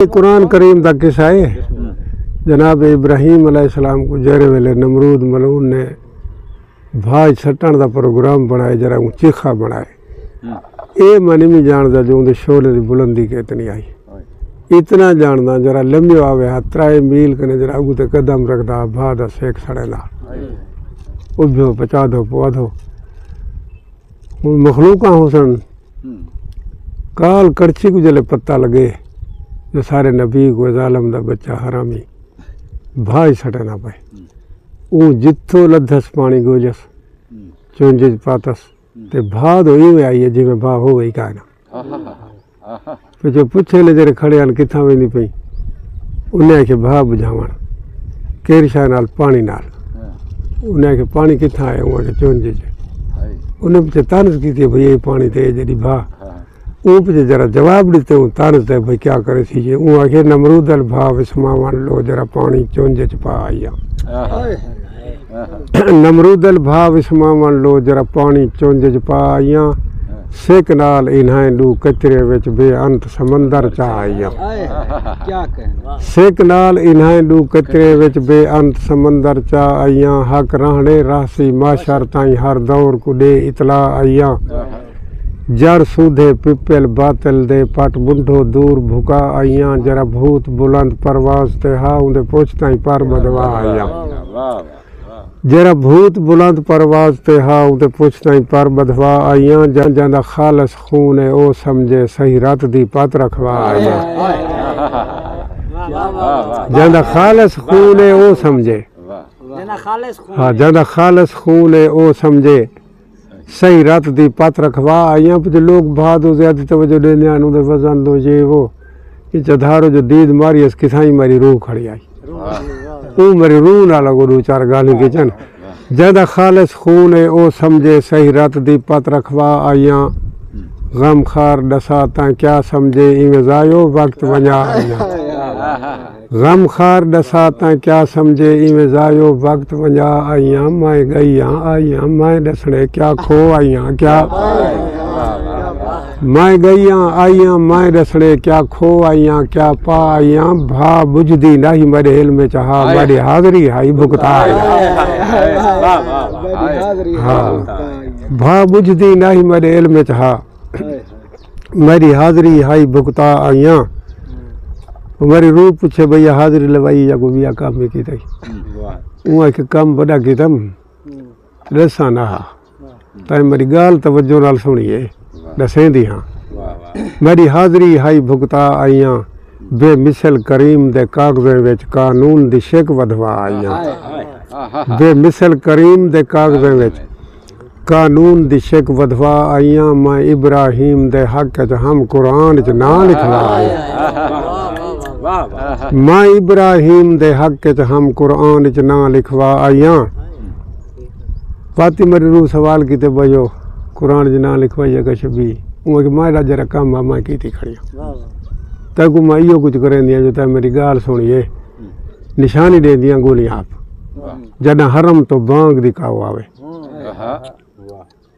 یہ قرآن کریم دا قصہ ہے جناب ابراہیم علیہ السلام کو جہرے ویلے نمرود ملعون نے بھاج سٹن دا پروگرام بنائے جرا اون چیخا بنائے اے منی میں جان دا جو اون دے شعلے دی بلندی کتنی آئی اتنا جاننا جرا لمبی آوے ہا ترائے میل کنے جرا اگو تے قدم رکھ دا بھا دا سیک سڑے دا او بھیو پچا دو پوا دو مخلوقاں حسن کال کرچی کو جلے پتہ لگے جو سارے نبی کو ظالم دا بچہ حرامی بھائی سٹے نہ پائے اون جتھو لدھس پانی گوجس چونجج پاتس تے بھا دو ایویں آئیے جی میں بھا ہو گئی کائنا پچھوں پچھے لے جیرے کھڑے ہن کتھاں ویندی پئیں انہیں آکھیا بھا بجھاون کیر شاہ نال پانی نال انہیں آکھیا پانی کتھاں آیا ہوں آکھیا چون جی انہیں پچھے تانس کیتی بھئی یہ پانی تے جڑی بھا اون پچھے جرا جواب دیتے ہوں تانس دے بھئی کیا کرے سی جی اون آکھیا نمرود ال بھا وسماون لو جرا پانی چون جی چپا آیا نمرودل بھا وسماون لو جرا پانی چونج اچ پا آئیاں سک نال انہائیں ڈو کچرے وچ بے انت سمندر چا آئیاں سک نال انہائیں ڈو کچرے وچ بے انت سمندر چا آئیاں حق رہنڑے رہسی معاشر تائیں ہر دور کوں ڈے اطلاع آئیاں جڑ سودھے پپل باطل دے پٹ بنڈھو دور بھکا آئیاں جرا بھوت بلند پرواز تے ہا اوندے پچھ تائیں پر بدوا آئیاں جرا بھوت بلند پرواز تے ہا اوندے پچھ تائیں پر بدھوا آئیاں جاں دا خالص خون اے او سمجھے سہی رت دی پت رکھوا آئیاں جاں دا خالص خون اے او سمجھے ہا جاں دا خالص خون اے او سمجھے۔ صحیح رت دی پت رکھوا آئیاں پچھے لوگ بھا دو زیادہ توجہ دے نیاں انہوں دے وزن دو یہ وہ انچہ دھارو جو دید ماری اس کسائی ماری روح کھڑی آئی اون مری روح نہ لگو دو چار گالی کی چن جہدہ خالص خون ہے او سمجھے صحیح رت دی پت رکھوا آئیاں غم خار ڈسا تاں کیا سمجھے ایمزائیو وقت ونیا آئیاں غم خار ڈسا تاں کیا سمجھے ایویں ضایو وقت ونجا آئیاں مائیں گئیاں آئیاں مائیں ڈسڑے کیا کھو آئیاں کیا مائیں گئیاں آئیاں مائیں ڈسڑے کیا کھو آئیاں کیا پا آئیاں بھا بجھدی ناہی مڈے علم چ ہا مڈی حاضری ہائی بھکتا آئیاں بھا بجھدی ناہی مڈے علم چ ہا میری حاضری ہائی بھگتا آئیاں میری روح پوچھے بھئی حاضری لوائی یا کوئی بیا کام بھی کیتا ہی وہ ایک کام بڑا کیتا ہم رسا نہ ہا تائیں میری گال توجہ نال سنی ہے دسیں دی ہاں میری حاضری ہائی بھگتا آئیاں بے مثل کریم دے کاغذیں وچ قانون دی شک ودھوا آئیاں بے مثل کریم دے کاغذیں وچ قانون دی شک ودھوا آئیاں میں ابراہیم دے حق اچ ہم قرآن اچ ناں لکھوا آئیاں میں ابراہیم دے حق اچ ہم قرآن اچ ناں لکھوا آئیاں فاطمہ دی روح سوال کیتے بھائیو قرآن اچ ناں لکھوائیے کا شبی اوں اچ میں راجہ رقم ہاں میں کیتی کھڑی ہاں تاں کو میں ایو کچھ کریں دیاں جو تاں میری گال سنیے نشانی دے دیاں گولیاں آپ جنہاں حرم تو بانگ دی کاؤ آوے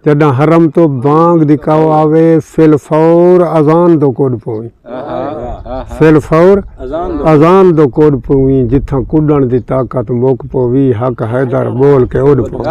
جݙاں حرم توں بانگ دی کاؤ آوے فی الفور اذان دو کݙ پوویں فی الفور اذان دو کݙ پوویں جتھاں کݙݨ دی طاقت مک پووی حق حیدر ٻول کے اݙ پوویں۔